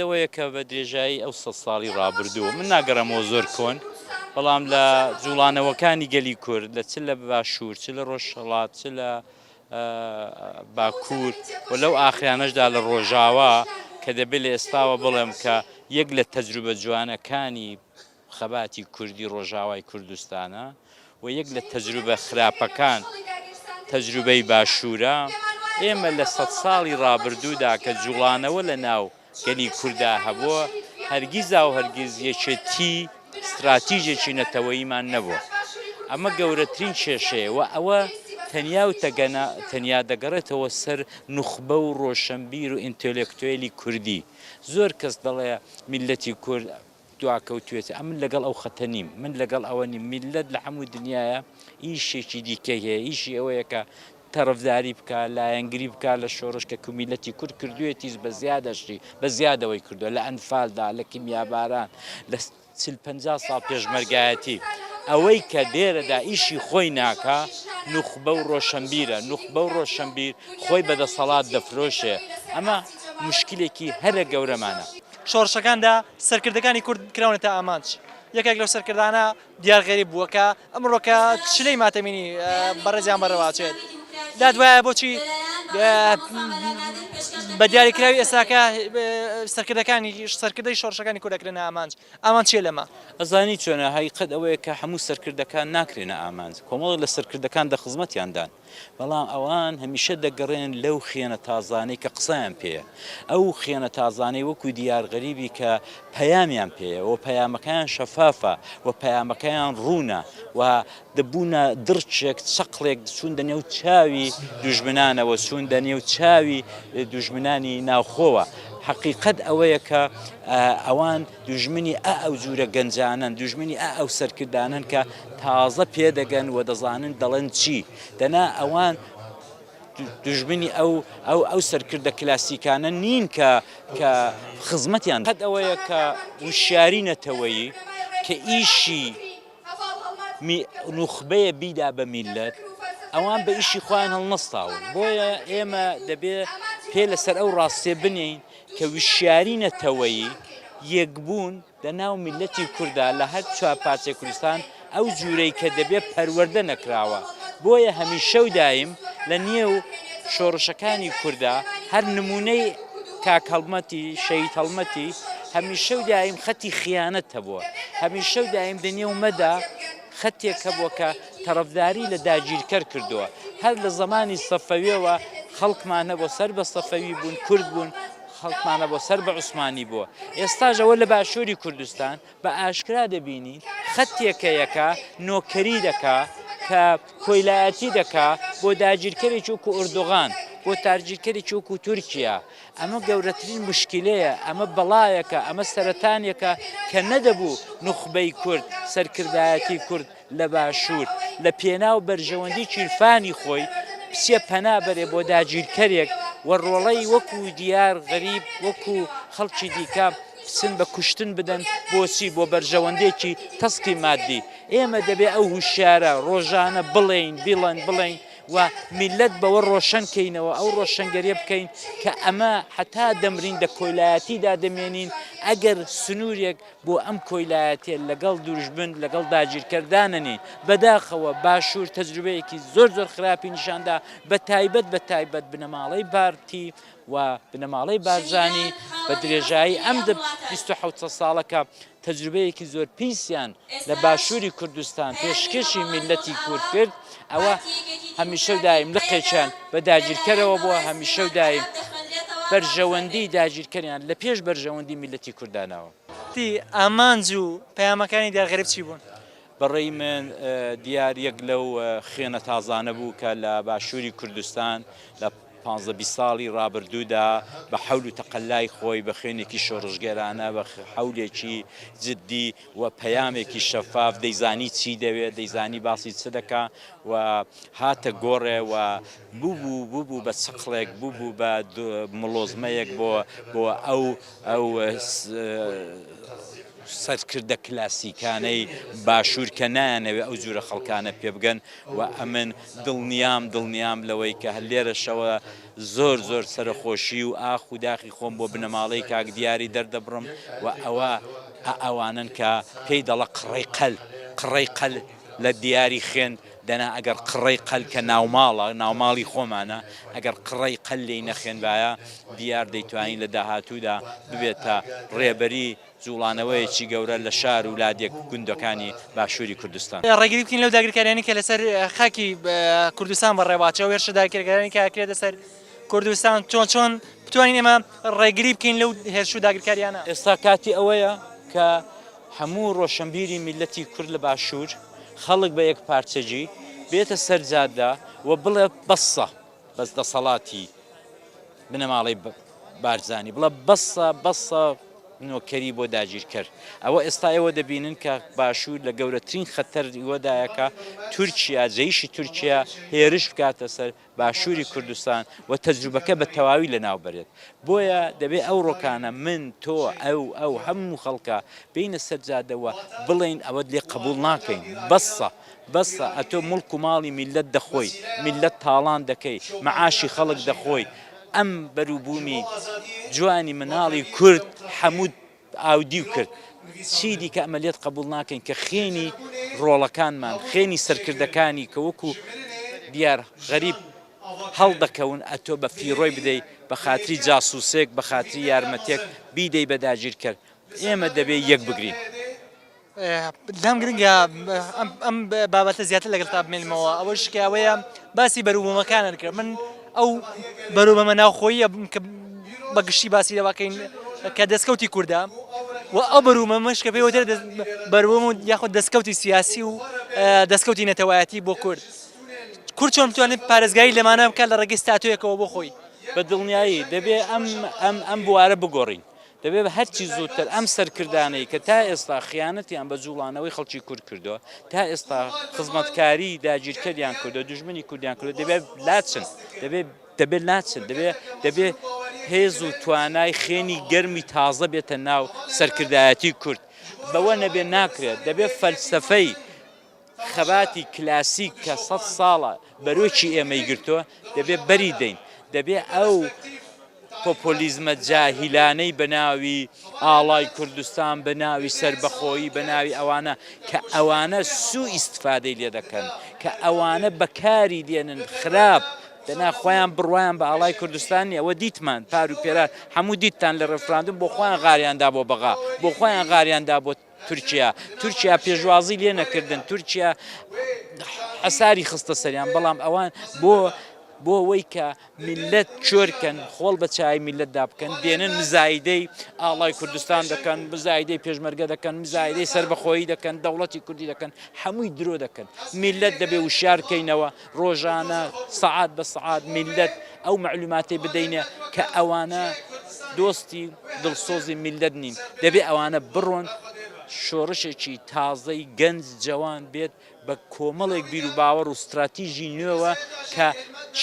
دەوەیە کە بە درێژایی ئەو سەد ساڵی ڕابردوو، من ناگەڕێمەوە زۆر کۆن، بەڵام لە جووڵانەوەکانی گەلی کورد لە چ لە باشوور، چ لە ڕۆژهەڵات، چ لە باکوور و لەو ئاخرانەشدا لە ڕۆژاوا کە دەبێ لە ئێستاوە بڵێم کە یەک لە تەجروبە جوانەکانی خەباتی کوردی ڕۆژاوای کوردستانە و یەک لە تەجروبە خراپەکان تەجروبەی باشوورە، ئێمە لە سەد ساڵی ڕابردوودا کە جوڵانەوە لە ناو گەلی کورددا هەبووە، هەرگیزا و هەرگیز یەکێتی ستراتیژێکی نەتەوەییمان نەبووە. ئەمە گەورەترین کێشەیە و ئەوە تەنیا و تەنیا دەگەڕێتەوە سەر نوخبە و ڕۆشنبیر و ئینتێلێکتوێلی کوردی. زۆر کەس دەڵێ میللەتی کورد دواکەوتوێتی ئەمن لەگەڵ ئەو خەتە نیم من لەگەڵ ئەوە نیم میللەت لە هەموو دنیاە ئیشێکی دیکەی هەیە ئیشی ئەوەیە کە تەڕفداری بکە لایەنگری بکە لە شۆڕش کە کومیلەتی کورد کردوێتیش بە زیادەشتی بە زیادەوەی کردو لە ئەنفالدا لە کیمیاباران لە چل پ ساڵ پێشمەرگایەتی ئەوەی کە دێرەدا ئیشی خۆی ناکە نوخبە و ڕۆشنبیرە نوخبە و ڕۆشنبیر خۆی بەدەسەڵات دەفرۆشێ ئەمە مشکلێکی هەرە گەورەمانە شۆڕشەکاندا سەرکردەکانی کورد کراونەتە ئامانج. یەکێک لەو سەرکردانە دیار غەریب بووە کە ئەمڕۆ کە چلەی ماتەمینی بەڕێزیان بەڕێواچێت دادوایە بۆچی بە دیاریکراوی ئێستاکە سەرکردەکانی سەرکردەی شۆڕشەکانی کورد دەکرێنە ئامانج ئامان چیە لەمە ئەزانی چۆنە هەیقەت ئەوەیە کە هەموو سەرکردەکان ناکرێنە ئامانج کۆمەڵێک لە سەرکردەکان دە خزمەتیاندان بەڵام ئەوان هەمیشە دەگەڕێن لەو خێنە تازانەی کە قسەیان پێیە، ئەو خێنە تازانەی وەکو دیار غەریبی کە پەیامیان پێیە و پەیامەکەیان شەفافە و پەیامەکەیان ڕوونە و دەبوونە دڕچێک، چەقڵێک چوونە نێو چاوی دوژمنانەوە، چوونە نێو چاوی دوژمنانی ناوخۆوە. حەقیقەت ئەوەیە کە ئەوان. دوژمنی ئە ئەو جورە گەنجانەن دوژمنی ئە ئەو سەرکردانەن کە تازە پێدەگەن و دەزانن دەڵێن چی دەنا ئەوان دژمنی ئەو ئەو ئەو سەرکردە کلاسیکانە نین کە کە خزمەتیان قەت ئەوەیە کە وشیاری نەتەوەیی کە ئیشی نوخبەیە بیدا بە میلەت ئەوان بە ئیشی خۆیان هەڵنەستاون بۆیە ئێمە دەبێ پێ لەسەر ئەو ڕاستێ بنین کە وشیاری نەتەوەیی یەکبوون لە ناو میللەتی کوردا لە هەر چوار پارچەی کوردستان ئەو جوورەی کە دەبێ پەروەردە نەکراوە بۆیە هەمیشە و دایم لە نێو شۆڕشەکانی کوردا هەر نموونەی کاک هەڵمەتی شەهید هەڵمەتی هەمیشە و دایم خەتی خیانەت هەبووە هەمیشە و دایم دە نێو مەدا خەتێک هەبووە کە تەڕەفداری لە داگیرکەر کردووە هەر لە زەمانی سەفەویەوە خەڵکمان هەبووە سەر بە سەفەوی بوون کورد بوون خەڵکمان هەبووە سەر بە عوسمانی بووە ئێستاش ئەوە لە باشووری کوردستان بە ئاشکرا دەبینین خەتێکەیەکە نۆکەری دەکا کە کۆیلایەتی دەکا بۆ داگیرکەری چووک و ئوردوغان بۆ تارگیرکەری چووک و تورکیا ئەمە گەورەترین مشکلەیە ئەمە بەڵایەکە ئەمە سەرەتانێکە کە نەدەبوو نوخبەی کورد سەرکردایەتی کورد لە باشوور لە پێناو بەرژەوەندی کیرفانی خۆی بچێ پەنا بەرێ بۆ داگیرکەرێک و ڕۆڵەی وەکو دیار غەریب وەکو خەڵکی دیکە بچن بە کوشتن بدەن بۆچی بۆ بەرژەوەندێکی تەسکی مادی ئێمە دەبێ ئەو هوشیارە ڕۆژانە بڵێین بیڵێن بڵێین و میلەت بەوە ڕۆشن کەینەوە ئەو ڕۆشنگەریە بکەین کە ئەمە هەتا دەمرین دە کۆیلایەتیدا دەمێنین ئەگەر سنوورێک بۆ ئەم کۆیلایەتیە لەگەڵ دوژمن لەگەڵ داگیرکەر دانەنی، بەداخەوە باشور تەجروبەیەکی زۆر زۆر خراپی نیشاندا بە تایبەت بە تایبەت بنەماڵەی پارتی و بنەماڵەی بارزانی بە درێژایی ئەم بیست و حەوت ساڵە کە تەجروبەیەکی زۆر پیسیان لە باشوری کوردستان پێشکەشی میللەتی کورد کرد ئەوە هەمیشە و دایم لقێکیان بە داگیرکەرەوە بووە، هەمیشە و دایم بەرژەوەندیی داگیرکەریان لە پێش بەرژەوەندیی میللەتی کورد داناوە. تی ئامانج و پەیامەکانی دیار غەریب چی بوون؟ بە ڕێی من دیار یەک لەو خوێنە تازانە بوو کە لە باشووری کوردستان لە. پانزە بیست ساڵی ڕابردوودا بە حەول و تەقەلای خۆی، بە خوێنێکی شۆڕشگێرانە، بە حەولێکی جددی و پەیامێکی شەفاف، دەیزانی چی دەوێت، دەیزانی باسی چ دەکا و هاتە گۆڕێ و ببوو ببوو بە چەقڵێک، ببوو بە مڵۆزمەیەک بۆ ئەو سەرکردە کلاسیکانەی باشوور کە نایانەوێت ئەو جورە خەڵکانە پێبگەن و ئەمن دڵنیام دڵنیام لەوەی کە لێرەشەوە زۆر زۆر سەرەخۆشی و ئاخ و داخی خۆم بۆ بنەماڵەی کاک دیاری دەردەبڕم و ئەوە ئەوانەن کە پێی دەڵە قڕەی قەل قڕەی قەل لە دیاری خوێن دەنا ئەگەر قڕەی قەل کە ناوماڵە ناوماڵی خۆمانە ئەگەر قڕەی قەل لێی نەخوێنبایە دیار دەیتوانی لە داهاتوودا ببێتە ڕێبەری جوڵانەوەیەکی گەورە لە شار و لادێ گوندەکانی باشووری کوردستان. ڕێگری بکەین لەو داگیرکاریانەی کە لەسەر خاکی کوردستان بەڕێواچێ و هێرشە داگیرکەرانەی کە ئەکرێتە سەر کوردستان چۆن چۆن بتوانین ئێمە ڕێگری بکەین لەو هێرش و داگیرکاریانە؟ ئێستا کاتی ئەوەیە کە هەموو ڕۆشەنبیری میللەتی کورد لە باشوور، خەڵک بە یەکپارچەگی بێتە سەر جادە و بڵێ بەسە. بەس دەسەڵاتی بنەماڵەی بارزانی بڵە بەسە بەسە نۆکەری بۆ داگیرکەر ئەوە ئێستا ئێوە دەبینن کە باشوور لە گەورەترین خەتەر ئیوەدایەکە تورکیا جەیشی تورکیا هێرش بکاتە سەر باشووری کوردستان و تەجروبەکە بە تەواوی لە ناو بەرێت بۆیە دەبێت ئەو ڕۆکانە من تۆ ئەو ئەو هەموو خەڵکە بینە سەرجادەوە بڵین ئەوە لێ قبول ناکەین بەسە بەسە ئەتۆ موڵک و ماڵی میللەت دەخۆی میللەت تاڵان دەکەی مەعاشی خەڵک دەخۆی ئەم بەروبومی جوانی مناڵی کورد حەموت ئاودیو کرد چی دیکە ئەمە لێت قەبوڵ ناکەین کە خێنی ڕۆڵەکانمان خێنی سەرکردەکانی کە وەکو دیار غەریب هەڵدەکەون ئەتۆ بە فیڕۆی بدەی بە خاتری جاسوسێک بە خاتری یارمەتێک بیدەی بە داگیرکەر ئێمە دەبێ یەک بگرین. لام گرنگە ئەم بابەتە زیاتر لەگەڵتا بمێنمەوە ئەوەش کە ئەوەیە باسی بەروبوومەکانت کرد من ئەو بەروبەمە ناوخۆیە کە بەگشتی باسی لەواکەین کە دەستکەوتی کووردا و ئەو بەرومە مەش کە پێوەتر بەروم و یاخود دەستکەوتی سیاسی و دەستکەوتی نەتەوایەتی بۆ کورد کورد چۆن بتوانێت پارێزگاری لەمانە بکە لە ڕێگەی ستاتویەکەوە بۆ خۆی بە دڵنیایی دەبێ ئەم ئەم ئەم بوارە بگۆڕین دەبێت هەرچی زووتر ئەم سەرکردانەی کە تا ئێستا خیانەتیان بە جووڵانەوەی خەڵکی کورد کردووە، تا ئێستا خزمەتکاریی داگیرکەریان کردووە، دوژمنی کوردیان کردووە، دەبێت لاچن، دەبێت لاچن، دەبێت هێز و توانای خوێنی گەرمی تازە بێتە ناو سەرکردایەتیی کورد، بەوە نەبێت ناکرێت، دەبێت فەلسەفەی. خەباتی کلاسیک کە سەد ساڵە بەرۆکی ئێمەی گرتووە، دەبێ بەری دەین. دەبێ ئەو پۆپۆلیزمە جاهیلانەی بە ناوی ئاڵای کوردستان، بە ناوی سەربەخۆیی، بە ناوی ئەوانە کە ئەوانە سوو ئیستفادەی لێ دەکەن، کە ئەوانە بە کاری دێنن خراپ، دەنا خۆیان بڕوایان بە ئاڵای کوردستان نییە. ئەوە دیتمان پار و پێرار هەموو دیتتان لە ڕێفراندوم بۆ خۆیان غاریان دا بۆ بەغا، بۆ خۆیان غاریان دا بۆ تورکیا تورکیا پێشوازی لێ نەکردن تورکیا حەساری خستە سەریان بەڵام ئەوان بۆ بۆ ئەوەی کە میلەت چۆرکەن خۆڵ بە چای میلەتدا بکەن دێنن مزایدەی ئاڵای کوردستان دەکەن مزایدەی پێشمەرگە دەکەن مزایدەی سربەخۆیی دەکەن دەوڵەتی کوردی دەکەن هەمووی درۆ دەکەن میلەت دەبێ وشارکەینەوە ڕۆژانە سەعات بە سەعات میللەت ئەو مەعلوماتەی بدەینێ کە ئەوانە دۆستی دڵسۆزی میللەت نین دەبێ ئەوانە بڕۆن شۆڕشێکی تازەی گەنج جەوان بێت بە کۆمەڵێک بیر و باوەڕ و استراتیژی نوێوە کە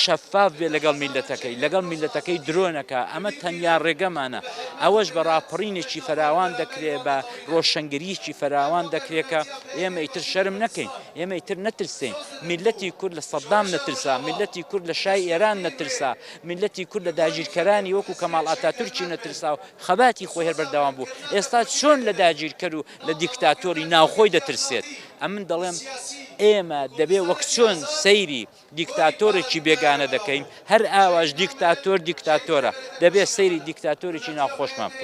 شەفاف بێ لەگەڵ میلەتەکەی لەگەڵ میلەتەکەی درۆنەکە ئەمە تەنیا ڕێگەمانە ئەوەش بە ڕاپەڕینێکی فراوان دەکرێ بە ڕۆشنگریکی فراوان دەکرێت کە ئێمە ئیتر شەرم نەکەین ئێمە ئیتر نەترسین میللەتی کورد لە سەدام نەترسا، میللەتی کورد لە شای ئێران نەترسا، میللەتی کورد لە داگیرکەرانی وەکوو کەماڵ ئاتاتورکی نەترسا و خەباتی خۆی هەر بەردەوام بوو، ئێستا چۆن لە داگیرکەر و لە دیکتاتۆری ناوخۆی دەترسێت؟ ئەمن دەڵێم ئێمە دەبێ وەک چۆن سەیری دیکتاتۆرێکی بێگانە دەکەین، هەر ئاواش دیکتاتۆر دیکتاتۆرە، دەبێ سەیری دیکتاتۆرێکی ناوخۆشمان بکەین.